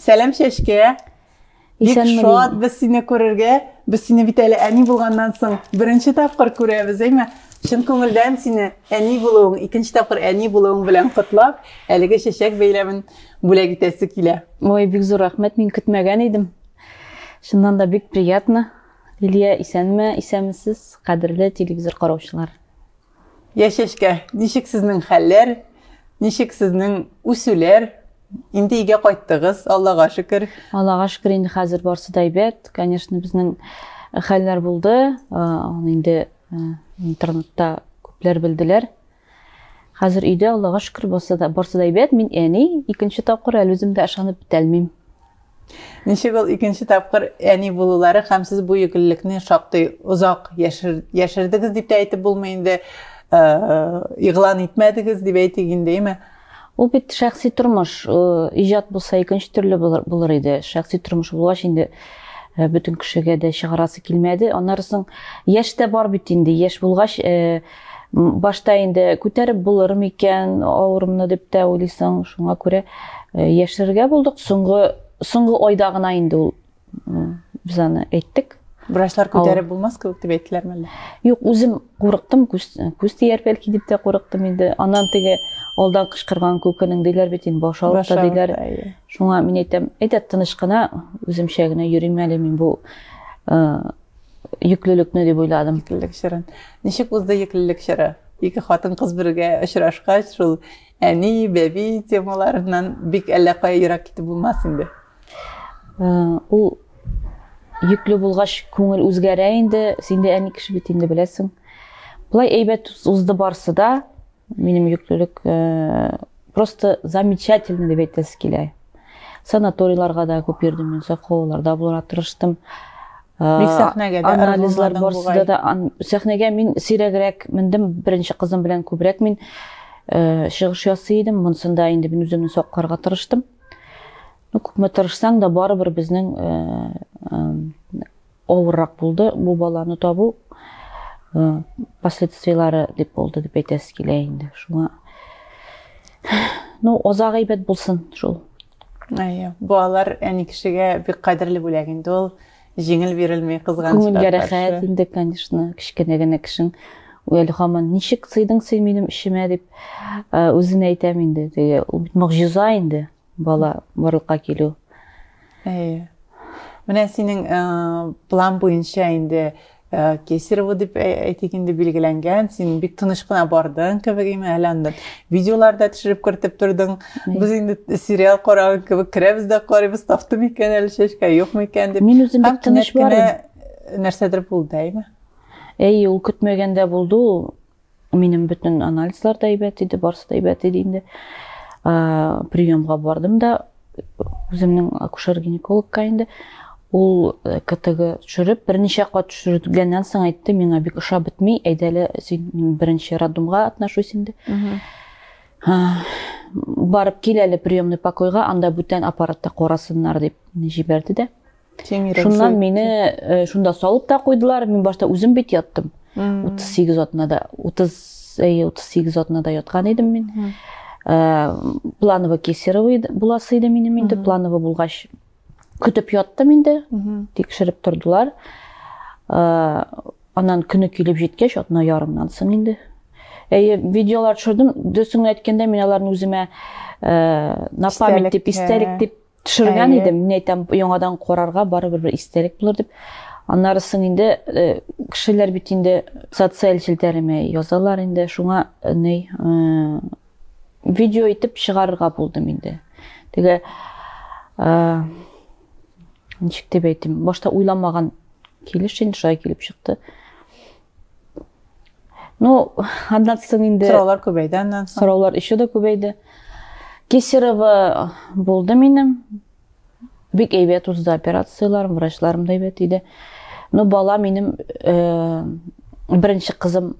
Сәлам Чәчкә. Бик шат без сине күрергә. Без сине бит әле әни булганнан соң беренче тапкыр күрәбез, әйме? Чын күңелдән сине әни булуың, икенче тапкыр әни булуың белән котлап, әлеге чәчәк бәйләмен бүләк итәсе килә. Ой, бик зур рәхмәт. Мин көтмәгән идем. Чыннан да бик приятно. Лилия, исәнме, исәнмесез, кадерле телевизор караучылар. Яшәшкә, ничек сезнең хәлләр, ничек сезнең үсүләр? Инде өйгә кайттыгыз, Аллага шөкер. Аллага шөкер, инде хәзер барсы да әйбәт. Конечно, безнең хәлләр булды. Аны инде интернетта күпләр белделәр. Хәзер өйдә, Аллага шөкер, барсы да, барсы да әйбәт. Мин әни, икенче тапкыр әле үзем дә ышанып бетәлмим. Ничек ул икенче тапкыр әни булулары һәм сез бу егеллекне шактый озак яшер, яшердегез дип тә әйтеп булмый инде, э, игълан итмәдегез дип әйтик инде, әйме? Ул бит шәхси тормыш, иҗат булса икенче төрле булыр иде. Шәхси тормыш булгач инде Э, бөтен кешегә дә чыгарасы килмәде аннары соң яшь тә бар бит инде яшь булгач э, башта инде күтәреп булыр микән авырымны дип тә уйлыйсың шуңа күрә э, яшерергә булдык соңгы соңгы айда гына инде ул Без аны әйттек. Врачлар күтәреп булмас кебек дип әйттеләрме әллә? Юк, үзем курыктым, күз күз тияр бәлки дип тә курыктым инде. Аннан теге алдан кычкырган күкенең диләр бит инде баш авырта диләр. Шуңа мин әйтәм, әйдә тыныч кына үземчә генә йөрим әле мин бу йөклелекне дип уйладым. Йөклелек чорын. Ничек узды йөклелек чоры? Ике хатын кыз бергә очрашкач, шул әни, бәби темаларыннан бик әллә кая ерак китеп булмас инде. Ул йөкле булгач, күңел үзгәрә инде. Син дә әни кеше бит инде беләсең. Болай әйбәт узды барсы да. Минем йөклелек э, просто замечательно дип әйтәсе килә. Санаторийларга да күп йөрдем мин, саклауларда булырга тырыштым. Бик э, сәхнәгә дә анализлар барсыда да сәхнәгә мин сирәгрәк мендем, беренче кызым белән күбрәк мин э, чыгыш ясый идем. Монсында инде мин үземне сакларга тырыштым. Ну, күпме тырышсаң да, барыбер безнең авыррак булды бу баланы табу. Последствияләре дип булды дип әйтәсе килә инде. Шуңа Ну, озак әйбәт булсын шул. Әйе. Балалар әни кешегә бик кадерле бүләк инде ул. җиңел бирелми кызганычка Күңелгә рәхәт инде, конечно, кечкенә генә кешең әле һаман ничек сыйдың син минем эчемә дип үзенә әйтәм инде. Теге ул бит могҗиза инде бала барлыкка килү. Әйе. Менә синең план буенча инде Ә, Кесарево дип ә, әйтик инде билгеләнгән, син бик тыныч кына бардың кебек име, әле анда видеолар да төшереп кертеп тордың. Без инде сериал караган кебек керәбез дә карыйбыз, тафты микән әле чәчкә, юк микән дип. Мин үзем бик тыныч бардым. Нәрсәдер булды, әйме? Әй, ул көтмәгәндә булды ул. Минем бөтен анализлар да әйбәт иде, барысы да әйбәт иде инде. Приемга бардым да үземнең акушер-гинекологка инде ул э, ктг төшереп берничә кат төшергәннән соң әйтте миңа бик ошап бетми әйдәле син беренче роддомга атнашуйс инде барып кил әле приемный покойга анда бүтән аппаратта карасыннар дип җибәрде дә Шуннан мине э, шунда салып та куйдылар. Мин башта үзем бит яттым. 38 атнада, 30 әйе 38 атнада яткан идем мин. Э, планово кесарево буласы иде минем инде. Планово булгач көтеп яттым инде. Тикшереп тордылар. Э, анан көне килеп җиткәч, атна ярымнан соң инде. Әйе, видеолар төшердем. Дөресен әйткәндә, мин аларны үземә на память дип, истәлек дип Төшергән Әйе. идем, мин әйтәм, яңадан карарга барыбер бер истәлек булыр дип. Аннары соң инде э, кешеләр бит инде социаль челтәремә язалар инде, шуңа э, ни э, видео итеп чыгарырга булдым инде. Теге э, ничек дип әйтим, башта уйламаган килеш инде шулай килеп чыкты. Ну, аннан соң инде... Сораулар күбәйде аннан соң. Сораулар еще да күбәйде. Кесарево булды минем. Бик әйбәт узды операцияләрем, врачларым да әйбәт иде. Ну, бала минем, э, беренче кызым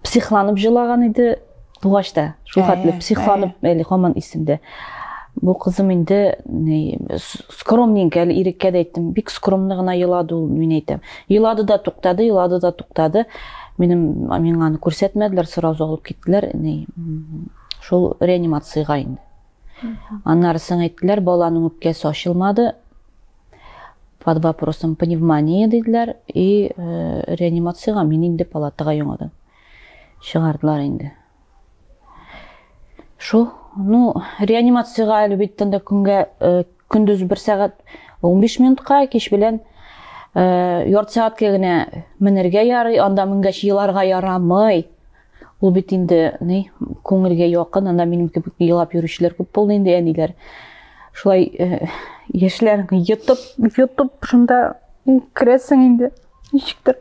психланып җылаган иде. Тугач та шул хәтле психланып әле һаман исемдә. Бу кызым инде скромненькая әле иреккә дә әйттем. Бик скромны гына елады ул, мин әйтәм. Елады да туктады, елады да туктады. Минем миңа аны күрсәтмәделәр, сразу алып киттеләр. Шул реанимациягә инде. Аннары соң әйттеләр, баланың үпкәсе ачылмады, под вопросом пневмония диделәр и э, реанимацияга мин инде палатага яңадан чыгардылар инде. Шул, ну, реанимациягә әле бит тында көнгә э, көндез бер сәгать 15 минутка, кич белән э, ярты сәгатькә генә менергә ярый, анда менгәч еларга ярамый. Ул бит инде, ни, күңелгә якын, анда минем кебек елап йөрүчеләр күп булды инде әниләр. Шулай э, яшьләр йотып, йотып шунда керәсең инде. Ничектер.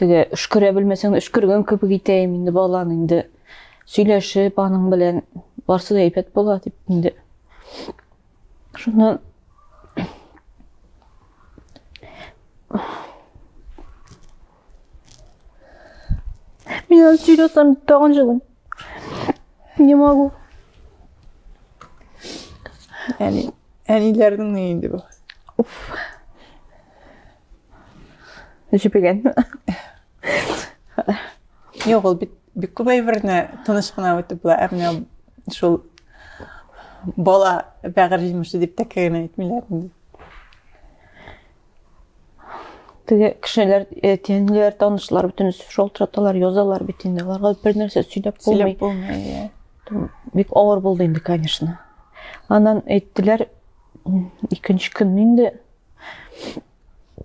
Теге өшкерә белмәсәң, өшкергән кебек итәем инде баланы инде. Сөйләшеп аның белән барсы да әйбәт була дип инде. Шуннан Меня серьезно тагын жылым. Не могу. Әни, әниләрнең ни инде бу? Уф. Җибеген. Юк, ул бит бик күп әйберне тыныч кына үтеп була, әмма шул бала бәгырь җимеше дип тә генә әйтмиләр инде. Теге кешеләр, э, тиенләр, танышлар бөтен шул траталар язалар бит инде. Аларга бер нәрсә сөйләп булмый. Сөйләп булмый. Э. Бик авыр булды инде, конечно. Аннан әйттеләр, икенче көн инде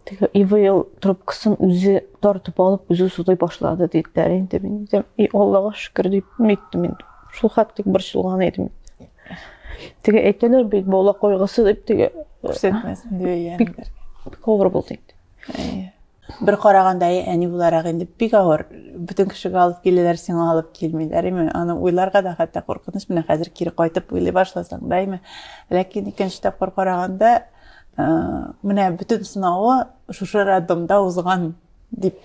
теге ивейл трубкасын үзе тартып алып үзе сузый башлады диделәр инде мин дидем и аллага шөкер дип әйттем мин шул хәтлек борчылган идем теге әйтәләр бит бала кайгысы дип теге күрсәтмәсен дип бик авыр булды инде Бер караганда әни буларак инде бик авыр. Бөтен кешегә алып киләләр, сиңа алып килмиләр. Име, аны уйларга да хәтта куркыныч. Менә хәзер кире кайтып уйлый башласаң да, име. Ләкин икенче тапкыр караганда, э, менә бөтен сынавы шушы роддомда узган дип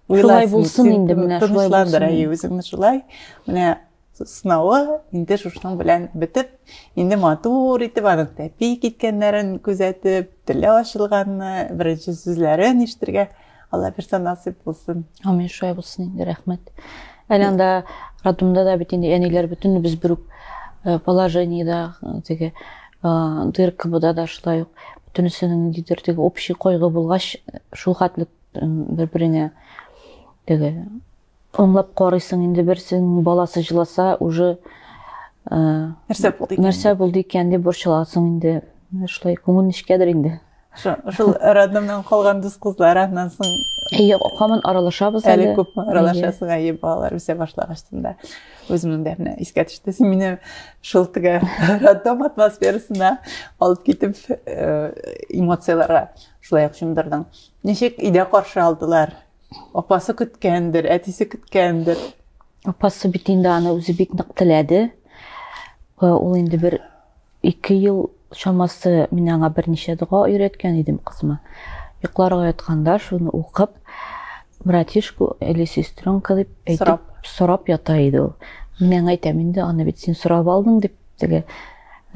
уйлайсың. Шулай булсын инде менә, шулай булсын. Тынычландыра үзеңне шулай. Менә сынавы инде шушының белән бетеп, инде матур итеп аның тәпи киткәннәрен күзәтеп, теле ачылганны, беренче сүзләрен ишетергә Алла бирсә насыйп булсын. Амин, шулай булсын инде, рәхмәт. Әле анда роддомда да бит инде әниләр бөтен без бер үк э, положениедә э, теге э, дыркыбыда да шулай ук бөтенесенең ниндидер теге общий кайгы булгач, шул хәтлек бер-береңә теге Аңлап карыйсың инде берсенең баласы җыласа уже нәрсә булды икән? Нәрсә булды икән дип борчыласың инде. Шулай күңел нечкәдер инде. Шул роддомнан калган дус кызлар аннан соң Әйе, һаман аралашабыз әле. Әле күпме аралашасың, әйе, балалар үсә башлагач да. Үземнең дә менә искә төште. Син мине шул теге роддом атмосферасына алып китеп эмоцияләргә шулай ук чумдырдың. Ничек өйдә каршы алдылар? Апасы көткәндер, әтисе көткәндер. Апасы бит инде аны үзе бик нык теләде. Ул инде бер ике ел чамасы мин аңа берничә дога өйрәткән идем кызыма. Йокларга ятканда шуны укып, братишку или сестренка дип әйтеп сорап ята иде ул. Мин аңа әйтәм инде, аны бит син сорап алдың дип, теге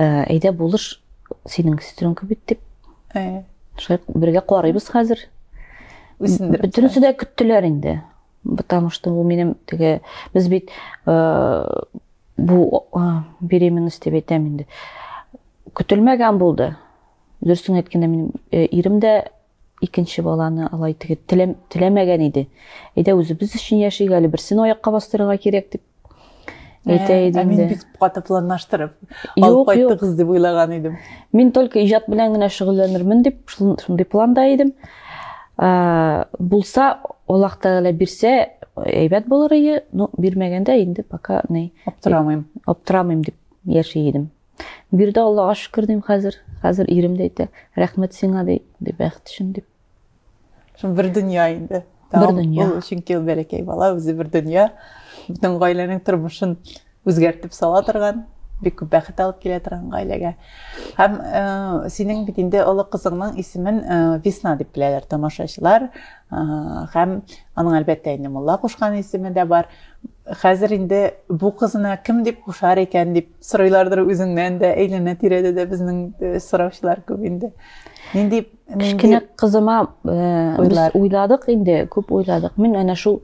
«Ә, әйдә булыш, синең сестренка бит дип. Ә. Шулай бергә карыйбыз хәзер. үсендереп. Бөтенесе дә көттеләр инде. Потому что ул минем теге без бит э, бу э, беременность дип әйтәм инде. Көтелмәгән булды. Дөресен әйткәндә минем э, ирем дә икенче баланы алай теге теләмәгән иде. Әйдә үзебез өчен яшик әле берсен аякка бастырырга кирәк дип әйтә э, идем ә мин бик каты планлаштырып алып кайттыгыз дип уйлаган идем мин только иҗат белән генә шөгыльләнермен дип шундый планда идем э, булса аллаһ тәгалә бирсә әйбәт булыр иде но бирмәгәндә инде пока ни аптырамыйм аптырамыйм дип яши идем бирде аллага шөкер дим хәзер хәзер ирем дә әйтә рәхмәт сиңа ди бәхет өчен дип Шул бер дөнья инде. Бер дөнья. Ул чөнки ул бәләкәй бала, үзе бер дөнья. Бүтән гаиләнең тормышын үзгәртеп сала торган, бик күп бәхет алып килә торган гаиләгә. Һәм э, синең бит инде олы кызыңның исемен э, Весна дип беләләр тамашачылар. Э, һәм аның әлбәттә инде Мулла кушкан исеме дә бар. Хәзер инде бу кызына кем дип кушар икән дип сорыйлардыр үзеңнән дә, әйләнә-тирәдә дә безнең э, сораучылар күп инде. Нинди кечкенә кызыма без уйладык инде күп уйладык мин әнә шул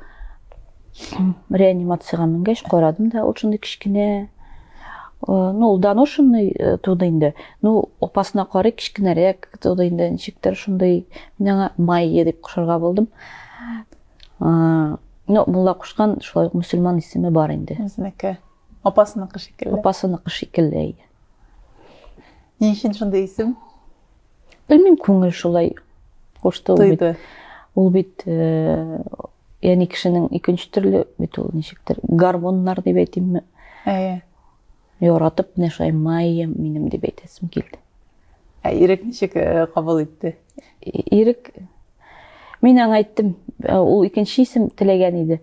реанимацияга менгәч карадым да ул шундый кечкенә ну ул доношенный туды инде ну апасына карый кечкенәрәк туды инде ничектер шундый мин аңа майя дип кушарга булдым ну мулла кушкан шулай ук мөселман исеме бар инде үзенеке апасыныкы шикелле апасыныкы шикелле әйе ни өчен шундый исем Белмим, күңел шулай кушты ул бит. Ул бит э, яни кешенең икенче төрле бит ул ничектер. Гормоннар дип әйтимме? Әйе. Яратып менә шулай майям минем дип әйтәсем килде. Ә ирек ничек э, кабул итте? Ирек Мин аңа айттым, э, ул икенче исем теләгән иде.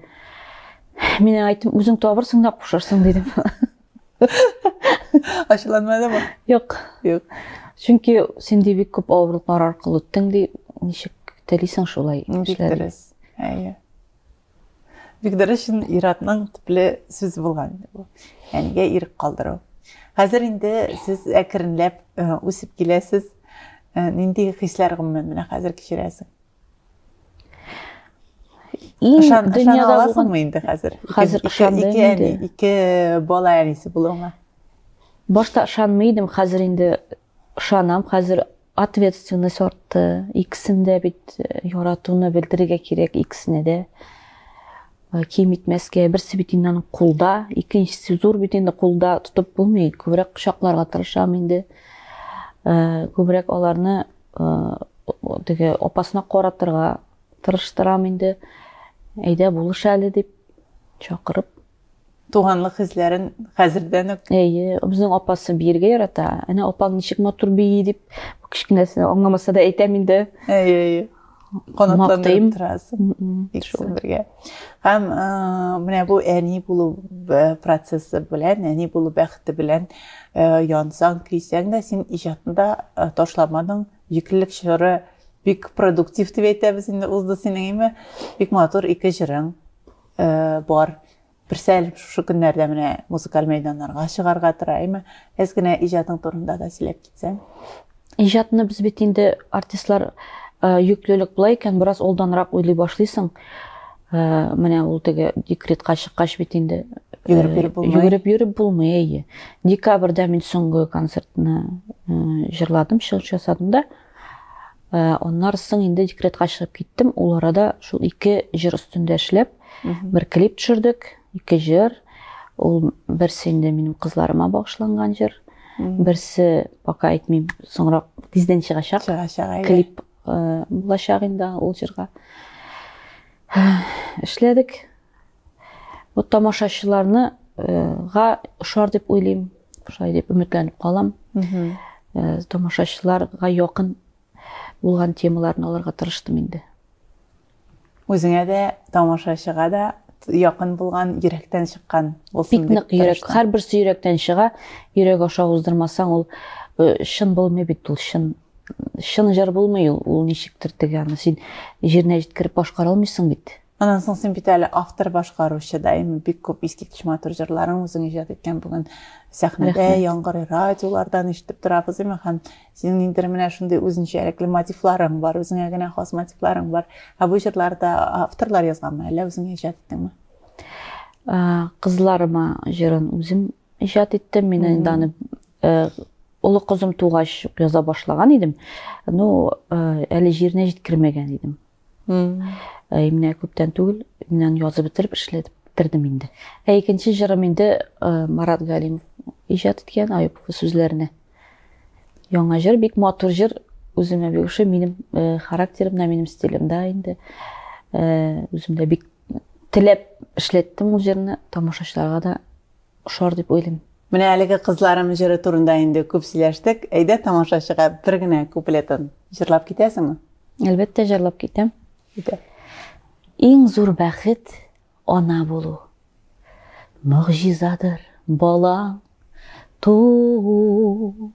Мин аңа айттым, үзең табырсың да кушарсың дидем. Ачыланмады ма? Юк. Юк. Чөнки син ди бик күп авырлыклар аркылы үттең ди, ничек телисең шулай эшләргә? Әйе. Бик дөрес шин иратның төпле сүз булган бу. Әнигә ирек калдыру. Хәзер инде сез әкренләп үсеп киләсез. Нинди хисләр гомумән менә хәзер кичерәсең? дөньяда аласыңмы инде хәзер хәзер ышанды ике әни ике бала әнисе булуыңа башта ышанмый идем хәзер инде ышанам хәзер ответственность артты икесен дә бит э, яратуны белдерергә кирәк икесенә дә э, ким итмәскә берсе бит инде аның кулда икенчесе зур бит инде кулда тотып булмый күбрәк кочакларга тырышам инде э, күбрәк аларны теге апасына каратырга тырыштырам инде әйдә булыш әле дип чакырып туганлык хисләрен хәзердән үк әйе безнең апасы биергә ярата әнә апаң ничек матур бии дип кечкенәсенә аңламаса да әйтәм инде әйе әйе канатландырып торасың икесен бергә һәм менә бу әни булу процессы белән әни булу бәхете белән янсаң көйсәң дә син иҗатында ташламадың йөклелек чоры бик продуктив дип әйтәбез инде узды синең име бик матур ике җырың бар Берсәл шушы көннәрдә менә музыкаль мәйданнарга чыгарга тора, әйме? Әз генә иҗатың турында да сөйләп китсәң. Иҗатны без бит инде артистлар йөклелек э, болай икән, бераз олданрак уйлый башлыйсың. Э, менә ул теге декретка чыккач бит инде э, йөгереп йөреп булмый. Йөгереп йөреп булмый, әйе. Декабрьдә мин соңгы концертны җырладым, чыгыш ясадым да. Э, аннары соң инде декретка чыгып киттем ул арада шул ике җыр өстендә эшләп бер клип төшердек ике җыр ул берсе инде минем кызларыма багышланган җыр берсе пока әйтмим соңрак тиздән чыгачак чыгачак клип э, булачак инде ул җырга э, эшләдек Бу тамашачыларны га ошар дип уйлыйм, шулай дип өметләнеп калам. Э, тамашачыларга якын булган темаларны алырга тырыштым инде. Үзеңә дә, тамашачыга да якын булган, йөрәктән чыккан булсын дип. Бик нык йөрәк, һәрберсе йөрәктән чыга. Йөрәк аша уздырмасаң, ул э, чын булмый бит ул, чын чын жыр булмый ул, ул ничектер теге аны син җиренә җиткереп башкара алмыйсың бит. Аннан соң син бит әле автор башкаручы да, именно бик күп искиткеч матур җырларың үзең иҗат иткән бүген сәхнәдә яңгырый, радиолардан ишетеп торабыз, именно һәм синең ниндер менә шундый үзенчәлекле мотивларың бар, үзеңә генә хас мотивларың бар. Ә бу җырларда авторлар язганмы, әллә үзең иҗат иттеңме? Кызларыма җырын үзем иҗат иттем. Мин инде аны э, олы кызым тугач яза башлаган идем. Ну, э, әле җиренә җиткермәгән идем. Ә менә күптән түгел, менә язып бетереп эшләдем кердем инде. Ә икенче җырым инде Марат Галимов иҗат иткән Аюпов сүзләренә. Яңа җыр, бик матур җыр, үземә бик ошый, минем характерымда, минем стилемда инде. Үземдә бик теләп эшләттем ул җырны, тамашачыларга да ошар дип уйлыйм. Менә әлеге кызларым җыры турында инде күп сөйләштек, әйдә тамашачыга бер генә куплетын җырлап китәсеңме? Әлбәттә җырлап китәм. Китә. Иң зур бәхет ана булу. Могҗизадыр балаң туу.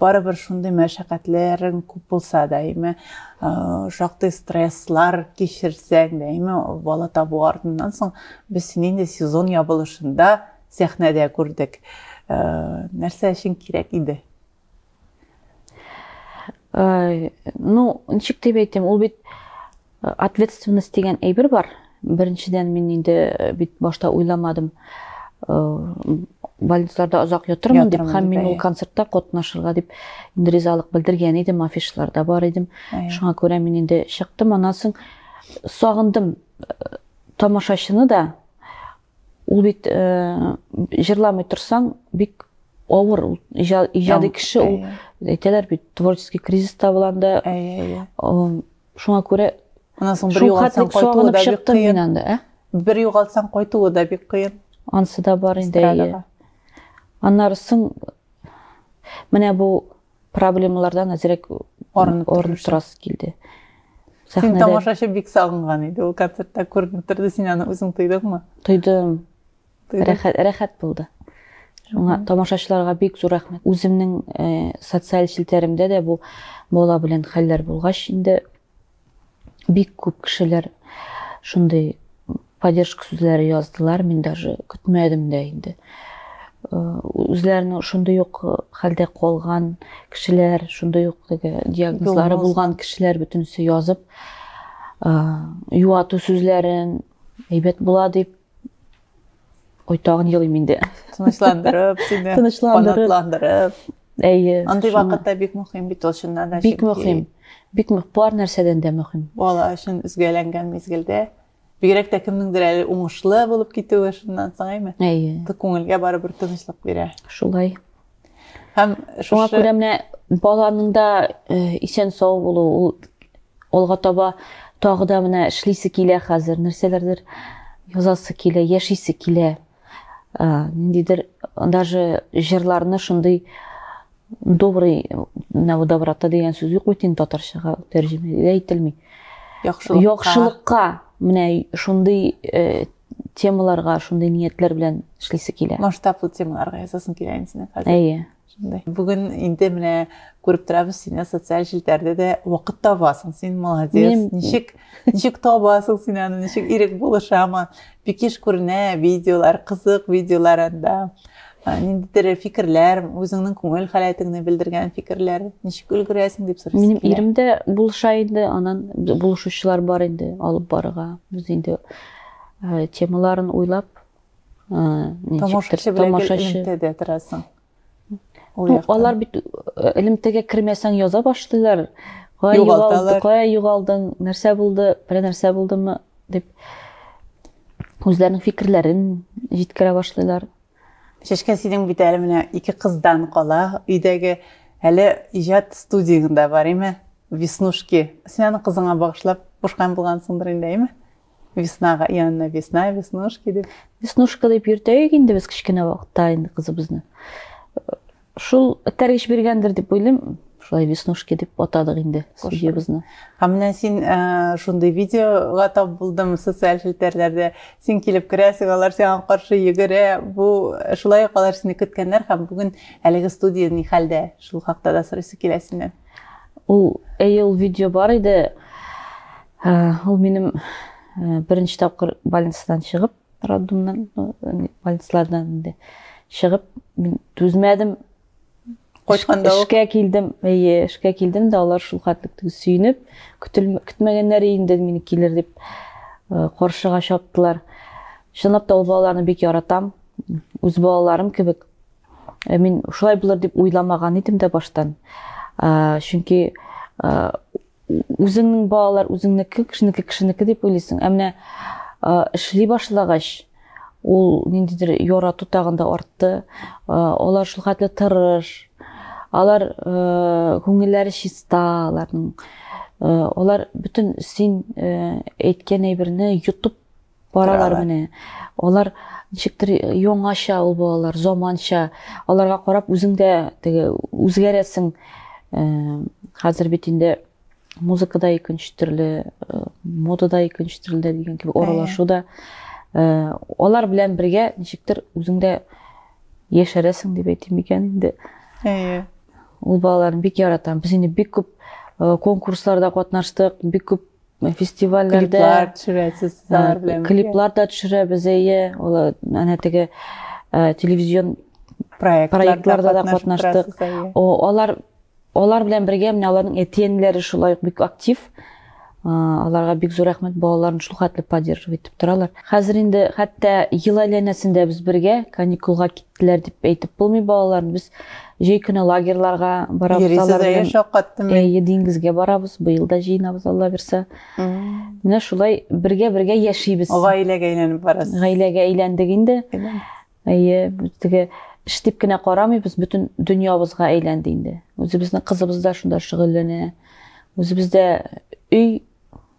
барыбер шундый мәшәкатьләрең күп булса да әйме шактый стресслар кичерсәң дә әйме бала табу артыннан соң без сине инде сезон ябылышында сәхнәдә күрдек нәрсә өчен кирәк иде ну ничек дип әйтим ул бит Ответственность дигән әйбер бар. Беренчедән мин инде э, бит башта уйламадым. Э, больницаларда озак ятырмын дип һәм мин ул концертта катнашырга дип инде ризалык белдергән идем, афишларда бар идем. Шуңа күрә мин инде чыктым. Аннан соң сагындым э, тамашачыны да. Ул бит җырламый торсаң, бик авыр ул иҗади кеше ул әйтәләр бит творческий кризиста буланда Шуңа күрә Аннан соң бер югалтсаң кайтуы да бик кыен. Анда, ә? Бер югалтсаң кайтуы да бик кыен. Ансы да бар инде. Аннары соң менә бу проблемалардан әзрәк арынып торасы килде. Сәхнәдә... Син тамашачы бик сагынган иде. Ул концертта күренеп торды, син аны үзең тойдыңмы? Тойдым. Рәхәт, рәхәт булды. Шуңа тамашачыларга бик зур рәхмәт. Үземнең э, социаль челтәремдә дә бу бала белән хәлләр булгач, инде бик күп кешеләр шундый поддержка сүзләре яздылар. Мин даже көтмәдем дә инде. Э, үзләренең шундый ук э, хәлдә калган кешеләр, шундый ук теге диагнозлары булган кешеләр бөтенесе язып, э, юату сүзләрен әйбәт була дип Ой, тагын елыйм инде. Тынычландырып, сине канатландырып. Әйе. Андый вакытта бик мөһим бит ул чыннан да. Бик мөһим. Бик мөһим. Бар нәрсәдән дә мөһим. Бала өчен үзгәләнгән мизгелдә бигрәк тә кемнеңдер әле уңышлы булып китүе шуннан соң әйме? Әйе. Күңелгә барыбер тынычлык бирә. Шулай. Һәм шуңа күрә менә баланың да э, исән сау булу, ул алга таба тагы да менә эшлисе килә хәзер, нәрсәләрдер язасы килә, яшисе килә. Э, ниндидер даже җырларны шундый добрый на доброта дигән сүз юк бит инде татарчага тәрҗемә ителми. Яхшылыкка. Яхшылыкка менә шундый э, темаларга шундый ниятләр белән эшлисе килә масштаблы темаларга язасың килә инде синең хәзер әйе шундай бүген инде менә күреп торабыз сине социаль челтәрдә дә вакыт табасың син молодец ничек ничек табасың син аны ничек ирек булышамы бик еш күренә видеолар кызык видеолар анда ниндидер фикерләр үзеңнең күңел халәтеңне белдергән фикерләр ничек өлгерәсең дип сорыйсың минем ирем дә булыша инде анан булышучылар бар инде алып барырга без инде темаларын уйлап тамашачы торасың ну алар бит элемтәгә кермәсәң яза башлыйлар кая югалды кая югалдың нәрсә булды бер нәрсә булдымы дип үзләренең фикерләрен җиткерә башлыйлар Чәчкә, синең бит әле менә ике кыздан кала, өйдәге әле иҗат студияң дә бар, әйме? Веснушки. Син аны кызыңа багышлап кушкан булгансыңдыр инде, әйме? Веснага, и Анна весна, веснушки дип. Веснушка дип йөртәек инде без кечкенә вакытта инде кызыбызны. Шул этәргеч биргәндер дип уйлыйм. Шулай веснушки дип атадык инде судьябызны. Һәм менә син э, шундый видеога тап булдым социаль челтәрләрдә. Син килеп керәсең, алар сиңа каршы йөгерә. Бу э, шулай ук алар сине көткәннәр һәм бүген әлеге студия ни хәлдә? Шул хакта да сорыйсы килә синнән. Ул әйе ул видео бар иде. Э, ул минем беренче тапкыр больницадан чыгып роддомнан больницалардан инде чыгып мин түзмәдем кайтканда эшкә килдем әйе эшкә килдем дә алар шул хәтлек сөенеп көтмәгәннәр инде мине килер дип э, каршыга чаптылар чынлап та ул балаларны бик яратам үз балаларым кебек э, мин шулай булыр дип уйламаган идем дә баштан чөнки э, Үзеңнең балалар үзеңнеке, кешенеке кешенеке дип уйлыйсың. Ә менә эшли башлагач, ул ниндидер ярату тагын да артты. Алар шул хәтле тырыш. Алар күңелләре чиста, аларның. Алар бөтен син әйткән әйберне йотып Баралар менә. Алар ничектер яңача ул балалар, заманча. Аларга карап үзең дә теге үзгәрәсең. Э, хәзер бит инде музыка да икенче төрле, э, мода да икенче төрле дигән кебек аралашу да. Э, алар белән бергә ничектер үзең дә яшәрәсең дип әйтим микән инде. Әйе. Ул балаларны бик яратам. Без инде бик күп конкурсларда катнаштык, бик күп фестивальләрдә клиплар төшерәсез клиплар да төшерәбез әйе ул әнә теге телевизион проектларда да катнаштык алар алар белән бергә менә аларның әти әниләре шулай ук бик актив аларга бик зур рәхмәт балаларын шул хәтле поддерживать итеп торалар хәзер инде хәтта ел әйләнәсендә без бергә каникулга киттек киттеләр дип әйтеп булмый балалар без җәй көне лагерьларга барабыз алар белән шаккаттым әйе диңгезгә барабыз быел да җыенабыз алла бирсә менә шулай бергә бергә яшибез гаиләгә әйләнеп барасыз гаиләгә әйләндек инде әйе теге эш дип кенә карамыйбыз бөтен дөньябызга әйләнде инде үзебезнең кызыбыз да шунда шөгыльләнә үзебездә өй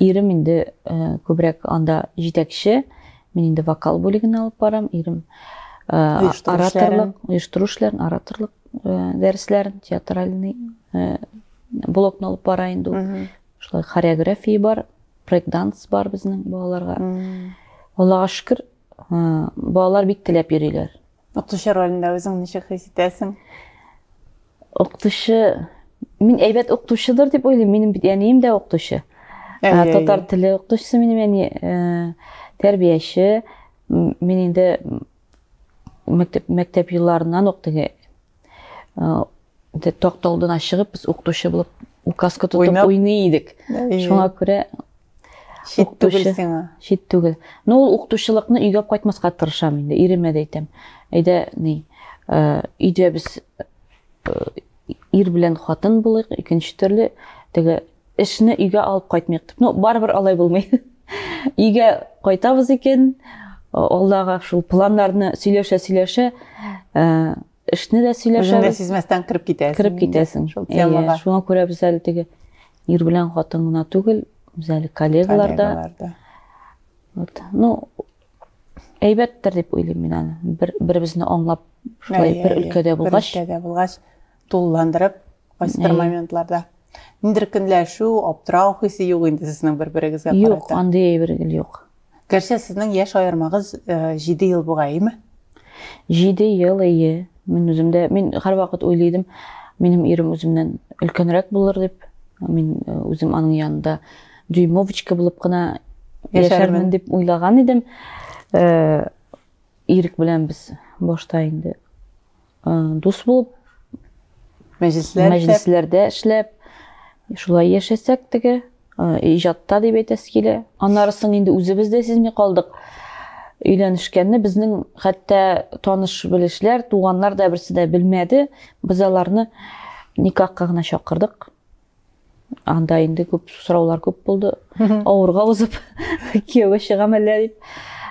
Ирем инде э, күбрәк анда җитәкче. Мин инде вокал бүлеген алып барам. Ирем э, ораторлык, оештыру эшләрен, ораторлык э, дәресләрен, театральный блокны алып бара инде ул. Шулай хореография бар, брейк-данс бар безнең балаларга. Аллага шөкер, Балалар бик теләп йөриләр. Укытучы ролендә үзең ничек хис итәсең? Укытучы, мин әйбәт укытучыдыр дип уйлыйм. Минем бит әнием дә укытучы. Татар теле укытучысы минем әни, э, тәрбияче. Мин инде мәктәп мәктәп елларыннан ук теге Токта алдына чыгып, без укытучы булып указка тотып уйный идек. Шуңа күрә Шит түгел сиңа. Шит түгел. Ну, ул укытучылыкны өйгә кайтмаска тырышам инде, иремә дә әйтәм. Әйдә, ни, өйдә без ир белән хатын булыйк, икенче төрле теге Эшне өйгә алып кайтмыйк дип. Ну, барыбер алай булмый. Өйгә кайтабыз икән, алдагы шул планнарны сөйләшә-сөйләшә, эшне дә сөйләшәбез. Үзеңдә сизмәстән кереп китәсең. Кереп китәсең. Шул темага. Шуңа күрә без әле теге ир белән хатын гына түгел, без әле коллегалар да. Вот. Ну, әйбәттер дип уйлыйм мин аны. Бер-беребезне аңлап, шулай бер өлкәдә булгач. Бер өлкәдә булгач, Тулыландырып, кайсыдыр моментларда. Ниндер көнләшү, аптырау хисе юк инде сезнең бер-берегезгә карата. Юк, андый әйбер гел юк. Гәрчә сезнең яшь аермагыз 7 э, ел бугай, әйме? 7 ел, әйе. Мин үземдә, мин һәрвакыт уйлыйдым, минем ирем үземнән өлкәнрәк булыр дип. Мин э, үзем аның янында дюймовочка булып кына яшәрмен дип уйлаган идем. Э, Ирек белән без башта инде дус булып мәҗлесләрдә эшләп шулай яшәсәк теге иҗатта дип әйтәсе килә аннары соң инде үзебез дә сизми калдык өйләнешкәнне безнең хәтта таныш белешләр туганнар да берсе дә белмәде без аларны никахка гына чакырдык анда инде күп сораулар күп булды авырга узып кияүгә чыгам әллә дип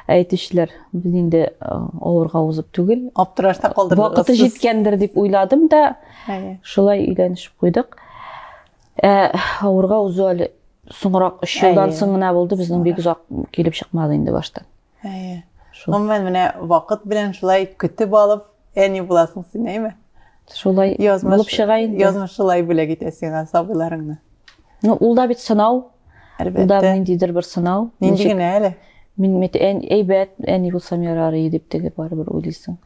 әйтүчеләр без инде авырга узып түгел аптырашта калдырдык вакыты җиткәндер дип уйладым да шулай өйләнешеп куйдык ә, авырга узу әле соңрак өч елдан соң гына булды безнең бик озак килеп чыкмады инде баштан Әйе. Гомумән менә вакыт белән шулай көтеп алып, әни буласың син, әйме? Шулай язмыш, булып чыга инде. Язмыш шулай бүләк итә сиңа сабыйларыңны. Ну, ул да бит сынау. Әлбәттә. Ул да ниндидер бер сынау. Нинди генә әле. Мин бит әйбәт, әни булсам ярар иде дип теге барыбер уйлыйсың.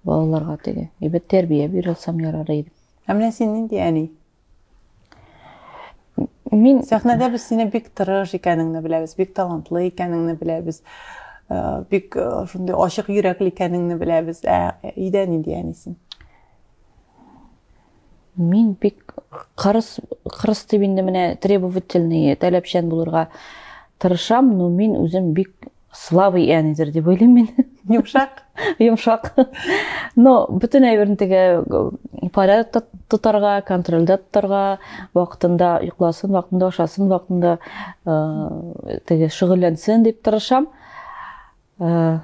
Балаларга теге. Әйбәт тәрбия бирә алсам ярар иде. Ә менә син нинди әни? Мин сәхнәдә без сине бик тырыш икәнеңне беләбез, бик талантлы икәнеңне беләбез. Э, бик э, шундый ачык йөрәкле икәнеңне беләбез. Ә өйдә нинди әнисең? Мин бик кырыс кырыс дип инде менә требовательный, таләпчән булырга тырышам, но мин үзем бик слабый әнидер дип уйлыйм мин йомшак йомшак но бөтен әйберне теге порядокта тотарга контрольдә тотарга вакытында йокласын вакытында ашасын вакытында э, теге шөгыльләнсен дип тырышам э,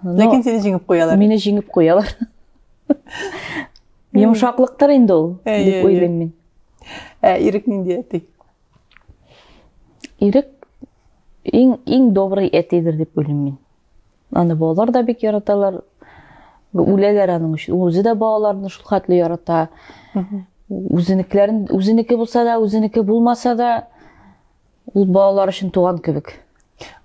ләкин сине җиңеп куялар мине җиңеп куялар йомшаклыктыр инде ул дип уйлыйм мин ә ирек нинди әти Ирек иң иң добрый әтидер дип уйлыйм мин. Аны балалар да бик яраталар. Үләләр аның өчен. Үзе дә балаларны шул хәтле ярата. Үзенекләрен үзенеке булса да, үзенеке булмаса да ул балалар өчен туган кебек.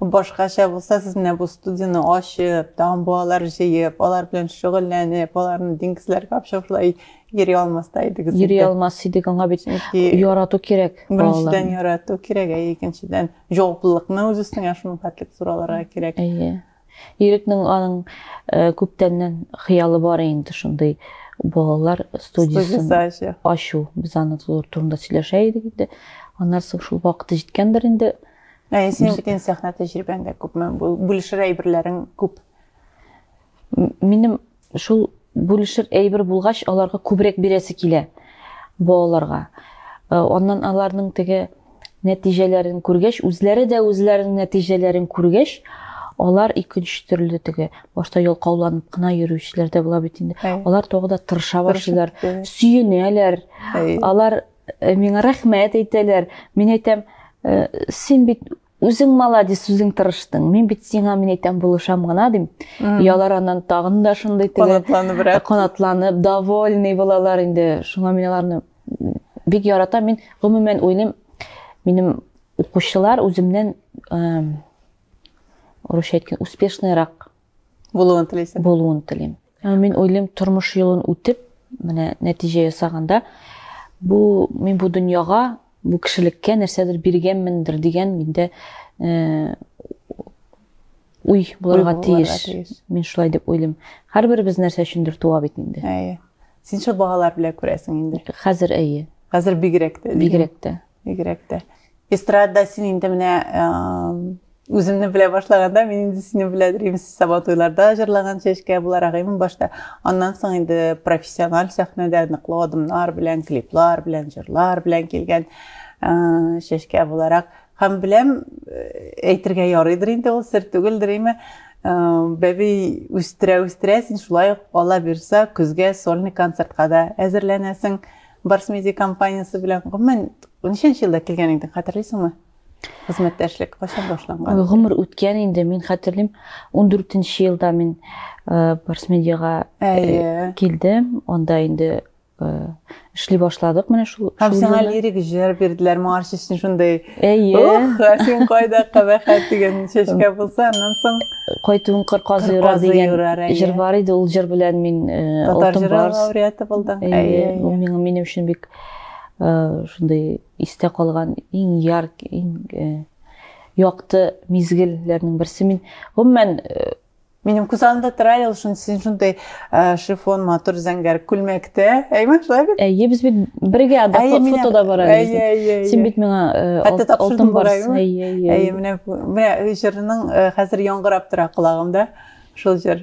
Башкача булса, сез менә бу студияне ачып, тагын балалар җыеп, алар белән шөгыльләнеп, аларны диңгезләргә алып чыгып шулай йөри алмас та идегез. Йөри алмас идек, аңа бит ярату кирәк. Беренчедән ярату кирәк, ә икенчедән җаваплылыкны үз өстеңә шуның хәтлек зур алырга кирәк. Әйе. Ирекнең аның э, күптәннән хыялы бар инде шундый балалар студиясен ачу. Без аны турында сөйләшә идек инде. Аннан соң шул вакыты җиткәндер инде. Ә синең бүтән сәхнә тәҗрибәң дә күпме? Бүлешер әйберләрең күп. Минем Шул бүлешер әйбер булгач, аларга күбрәк бирәсе килә балаларга. Э, аннан аларның теге нәтиҗәләрен күргәч, үзләре дә үзләренең нәтиҗәләрен күргәч, алар икенче төрле теге башта ялкауланып кына йөрүчеләр дә була бит инде. Алар тагы да тырыша башлыйлар, сөенәләр. Алар э, миңа рәхмәт әйтәләр. Мин әйтәм, э, син бит Үзең молодец, үзең тырыштың. Мин бит сиңа мин әйтәм булышам гына дим. Ялар аннан тагын да шундый теге канатланыбрак. Канатланып, довольный булалар инде. Шуңа мин аларны бик яратам. Мин гомумән уйлыйм, минем укучылар үземнән урысча әйткән успешныйрак булуын телисең. Булуын телим. Мин уйлыйм, тормыш юлын үтеп, менә нәтиҗә ясаганда, бу мин бу дөньяга, бу кешелеккә нәрсәдер биргәнмендер дигән миндә э, уй булырга тиеш. Мин шулай дип уйлыйм. Һәрберебез нәрсә өчендер туа бит инде. Әйе. Син шул балалар белән күрәсең инде. Хәзер әйе. Хәзер бигрәк тә. Бигрәк тә. Бигрәк тә. Эстрада син инде менә үземне белә башлаганда мин инде сине белә дримс сабатуйларда җырлаган чәчкә буларак имин башта аннан соң инде профессиональ сәхнәдә ныклы адымнар белән клиплар белән җырлар белән килгән чәчкә буларак һәм беләм әйтергә ярыйдыр инде ул сер түгелдер име бәби үстерә үстерә син шулай ук ала бирса көзгә сольный концертка да әзерләнәсең Барс Медиа компаниясе белән гомумән ничәнче елда килгән идең, хәтерлисеңме? Хезмәттәшлек кайчан башланган? Ой, гомер үткән инде, мин хәтерлим, 14-нче елда мин э, Барс Медиага э, килдем. Анда инде э, эшли башладык менә шул. Һәм сиңа лирик җыр бирделәр, моңарчы өчен шундый Әйе. Ух, син кайда кабахәт дигән чәчкә булса, аннан соң кайтуын кыр казы юрар дигән җыр бар иде. Ул җыр белән мин э, татар җыры лауреаты булдым. Әйе. Ул миңа минем өчен бик э, шундый истә калган иң яр, иң э, якты мизгелләрнең берсе. Мин гомумән Минем күз алдында тора әле шуны син шундай э, шифон матур зәңгәр күлмәктә. Әйме, шулай бит? Әйе, без бит бергә да фотода бара без. Син бит миңа э, алтын барсын. Әйе, әйе. Әйе, менә менә җырның э, хәзер яңгырап тора колагымда. Шул җыр.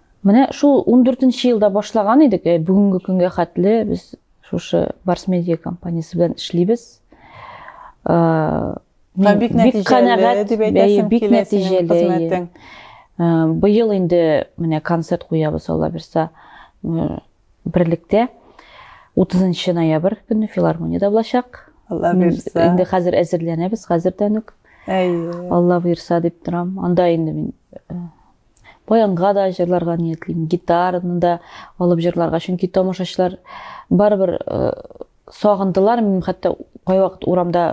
Менә шул 14 нче елда башлаган идек, э, бүгенге көнгә хәтле без шушы Барс медиа компаниясе белән эшлибез. Э, мин бик нәтиҗәле дип әйтәсем бик нәтиҗәле. Э, быел инде менә концерт куябыз Алла бирса берлектә 30 ноябрь көне филармониядә булачак. Алла бирса. Инде хәзер әзерләнәбез, хәзердән үк. Әйе. Алла бирса дип торам. Анда инде мин баянга да җырларга ниятлим, гитараны да алып җырларга, чөнки тамашачылар барыбер э, сагындылар, мин хәтта кайвакыт урамда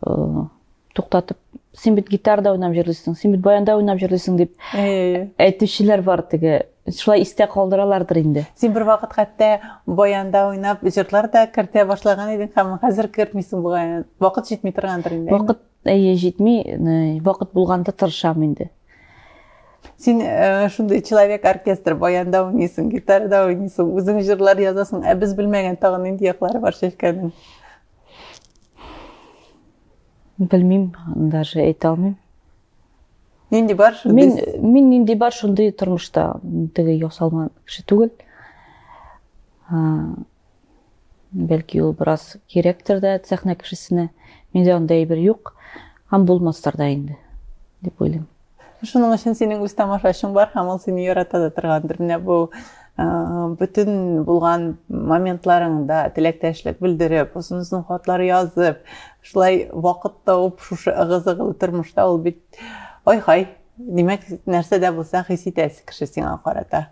э, туктатып, син бит гитарда уйнап җырлыйсың, син бит баянда уйнап җырлыйсың дип әйтүчеләр бар теге шулай истә калдыралардыр инде син бер вакыт хәтта баянда уйнап җырлар да кертә башлаган идең һәм хәзер кертмисең бугай вакыт җитми торгандыр инде вакыт Әйе, җитми, вакыт булганда тырышам инде. Син э, шундый человек оркестр, баянда уйныйсың, гитарада уйныйсың, үзең җырлар язасың, ә без белмәгән тагы нинди яклары бар Чәчкәнең? Белмим, даже әйтә алмыйм. Нинди бар шундый? Мин мин нинди бар шундый тормышта теге ясалма кеше түгел. Бәлки ул бераз кирәктер дә сәхнә кешесенә. Миндә андай әйбер юк һәм булмастыр да инде, дип уйлыйм. Шуның өчен синең үз тамашачың бар һәм ул сине ярата да торгандыр. Менә бу бөтен булган моментларыңда теләктәшлек белдереп, озын-озын хатлар язып, шулай вакыт тауып шушы ыгы-зыгылы тормышта ул бит ай-хай, димәк, нәрсә дә булса хис итәсе кеше сиңа карата.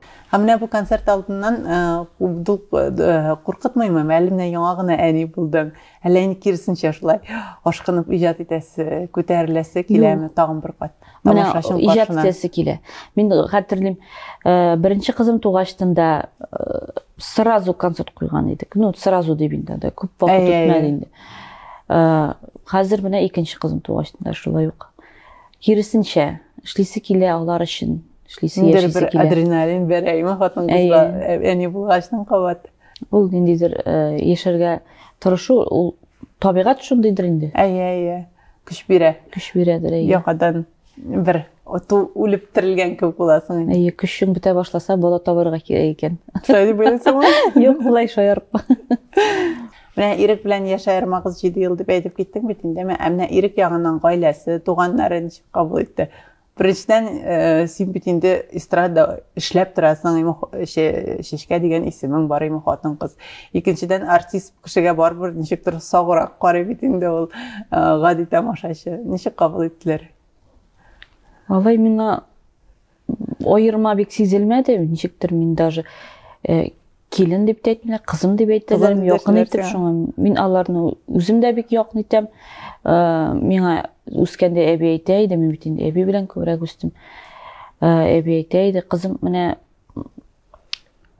Һәм менә бу концерт алдыннан куркытмыймы? Әле менә яңа гына әни булдың. Әллә инде киресенчә шулай ашкынып иҗат итәсе, күтәреләсе киләме тагын бер кат? Менә иҗат итәсе килә. Мин хәтерлим, э, беренче кызым тугач тында э, сразу концерт куйган идек. Ну, сразу дип инде, да, күп вакыт үтмәде инде. Э, хәзер менә икенче кызым тугач тында шулай ук. Киресенчә, эшлисе килә алар өчен. эшлисе Ниндер яшисе бер килә. адреналин бәрәйме хатын кызга Әйе. ә- әни булгачтан кабат. Ул ниндидер э, яшәргә тырышу, ул табигать шундыйдыр инде. Әйе, әйе. Көч бирә. Көч бирәдер, әйе. Яңадан бер оту үлеп терелгән кебек буласың инде. Әйе, көчең бетә башласа, бала табарга кирәк икән. Шулай дип уйлыйсыңмы? Юк, болай шаярып. Менә Ирек белән яшь аермагыз 7 ел дип әйтеп киттең бит инде. Менә ә менә Ирек ягыннан гаиләсе, туганнары ничек кабул итте? Беренчедән, э, син бит инде эстрада эшләп торасың, име Шешкә дигән исемең бар име хатын-кыз. Икенчедән, артист кешегә барыбер ничектер саграк карый бит инде ул э, гади тамашачы. Ничек кабул иттеләр? Алай миңа аерма бик сизелмәде, ничектер мин даже э, килен дип тә әйтмиләр кызым дип әйтәләр якын итеп шуңа мин аларны үзем дә бик якын итәм э, миңа үскәндә әби әйтә иде мин бит инде әби белән күбрәк үстем э, әби әйтә иде кызым менә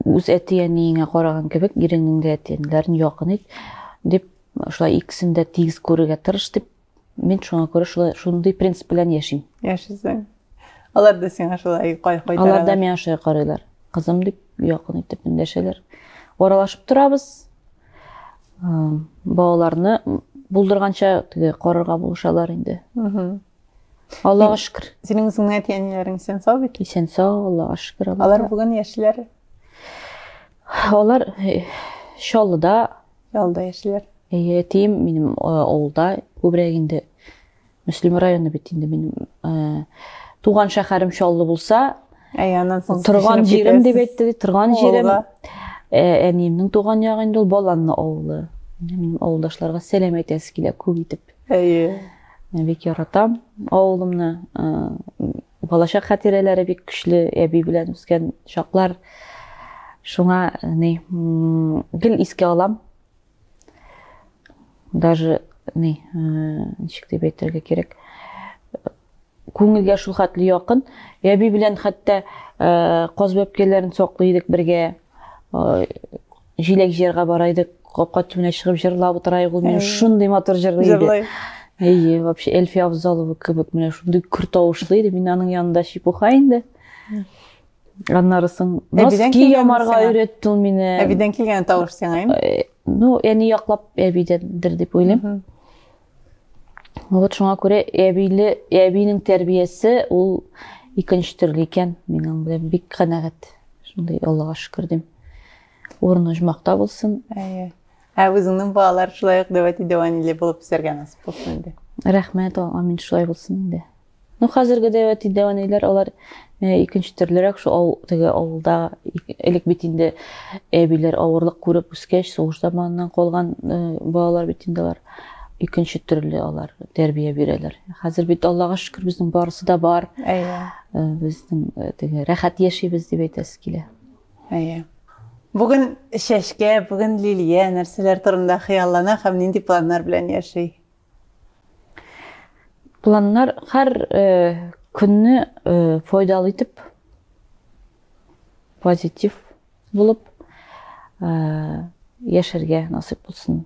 үз әти әниеңә караган кебек иреңнең дә әти әниләрен якын ит дип шулай икесен дә тигез күрергә тырыш дип Мин шуңа күрә шулай шундый принцип белән яшим. Яшисең. Алар да сиңа шулай кайтаралар. Алар да миңа шулай карыйлар. Кызым дип якын итеп эндәшәләр. Аралашып торабыз. Балаларны булдырганча теге карарга булышалар инде. Аллага шөкер. Синең үзеңнең әти-әниләрең исән сау бит? Исән сау, Аллага шөкер. Алар бүген яшьләр. Алар э, Чаллыда Ялда яшиләр. Әйе, әтием минем авылда, күбрәк инде Мөслим районы бит инде минем туган шәһәрем Чаллы булса, торган җирем дип әйтте, торган җирем. Әниемнең туган ягы инде ул Баланны авылы. Минем авылдашларга сәлам әйтәсе килә күп итеп. Әйе. Бик яратам авылымны. Балачак хатирәләре бик көчле, әби белән үскән чаклар. Шуңа ни, гел искә алам. Даже ни, ничек дип әйтергә кирәк? Күңелгә шул хәтле якын. Әби белән хәтта каз бәпкәләрен саклый идек бергә. Җиләк җыярга бара идек, капка төбенә чыгып җырлап утырайык, ул мине шундый матур җырлый иде. Җырлый. Әйе, вообще Эльфия Авзалова кебек менә шундый көр тавышлы иде. Мин аның янында чепуха инде. Аннары соң носки ямарга өйрәтте ул мине. Әбидән килгән тавыш сиңа инде. Ну, әни яклап әбидәндер дип уйлыйм. Вот шуңа күрә әбиле, әбинең тәрбиясе ул икенче төрле икән. Мин аның белән бик канәгать. Шундый Аллага шөкер дим. Урыны җмакта булсын. Әйе. Ә үзеңнең балалар шулай ук дәвәти дәваниле булып үсәргә насып булсын инде. Рәхмәт, амин шулай булсын инде. Ну, хәзерге дә әти дәвәниләр алар икенче төрлерәк шул ау, теге авылда элек бит инде әбиләр авырлык күреп үскәч, сугыш заманыннан калган балалар бит инде алар икенче төрле алар тәрбия бирәләр. Хәзер бит Аллага шөкер безнең барысы да бар. Әйе. Безнең теге рәхәт яшибез дип әйтәсе килә. Әйе. Бүген чәчкә, бүген лилия нәрсәләр турында хыяллана һәм нинди планнар белән яши? Планнар һәр көнне файдалы итеп, позитив булып яшәргә насыйп булсын.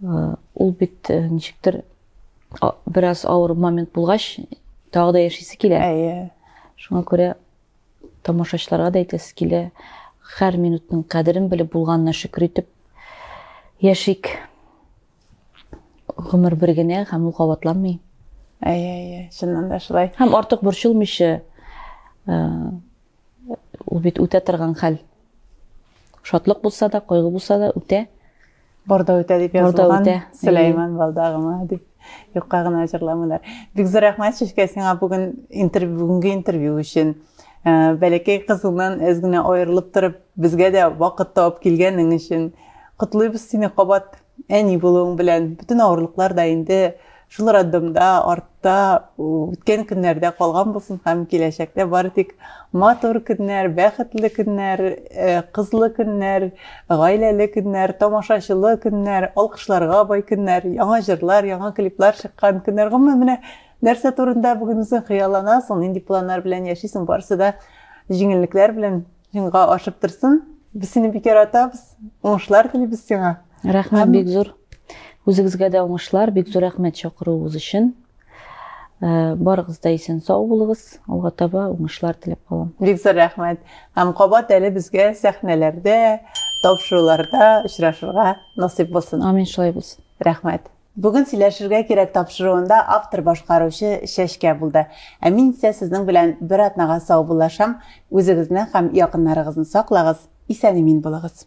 Ул бит ничектер бераз авыр момент булгач, тагы да яшисе килә. Әйе. Шуңа күрә тамашачыларга да әйтәсе килә, һәр минутның кадерен белеп булганына шөкер итеп яшик. Гомер бер генә һәм ул кабатланмый. Әйе, әйе, чыннан да шулай. Һәм артык борчылмыйча э, ул бит үтә торган хәл. Шатлык булса да, кайгы булса да үтә. Барда үтә дип язылган. Сөләйман Балдагыма дип юкка гына җырламыйлар. Бик зур рәхмәт Шишкә сиңа бүген интервью бүгенге интервью өчен. Э, бәләкәй кызыңнан әз генә аерылып торып, безгә дә вакыт табып килгәнең өчен котлыйбыз сине кабат. Әни булуың белән бөтен авырлыклар да инде шул роддомда, артта, үткән көннәрдә калган булсын һәм киләчәктә бары тик матур көннәр, бәхетле көннәр, э, кызлы көннәр, гаиләле көннәр, тамашачылы көннәр, алкышларга бай көннәр, яңа җырлар, яңа клиплар чыккан көннәр. Гомумән, менә нәрсә турында бүген үзең хыялланасың, нинди планнар белән яшисең, барысы да җиңеллекләр белән Җиңга ашып торсын. Без сине бик яратабыз. Уңышлар телибез сиңа. Рәхмәт бик зур. Үзегезгә дә уңышлар, бик зур рәхмәт чакыруыгыз өчен. Э, барыгыз да исән сау булыгыз алга таба уңышлар теләп калам бик зур рәхмәт һәм кабат әле безгә сәхнәләрдә тапшыруларда очрашырга насыйп булсын амин шулай булсын рәхмәт Бүген сөйләшергә кирәк тапшыруында автор башкаручы Чәчкә булды. Ә мин исә сезнең белән бер атнага саубуллашам. Үзегезне һәм якыннарыгызны саклагыз, исән-имин булыгыз.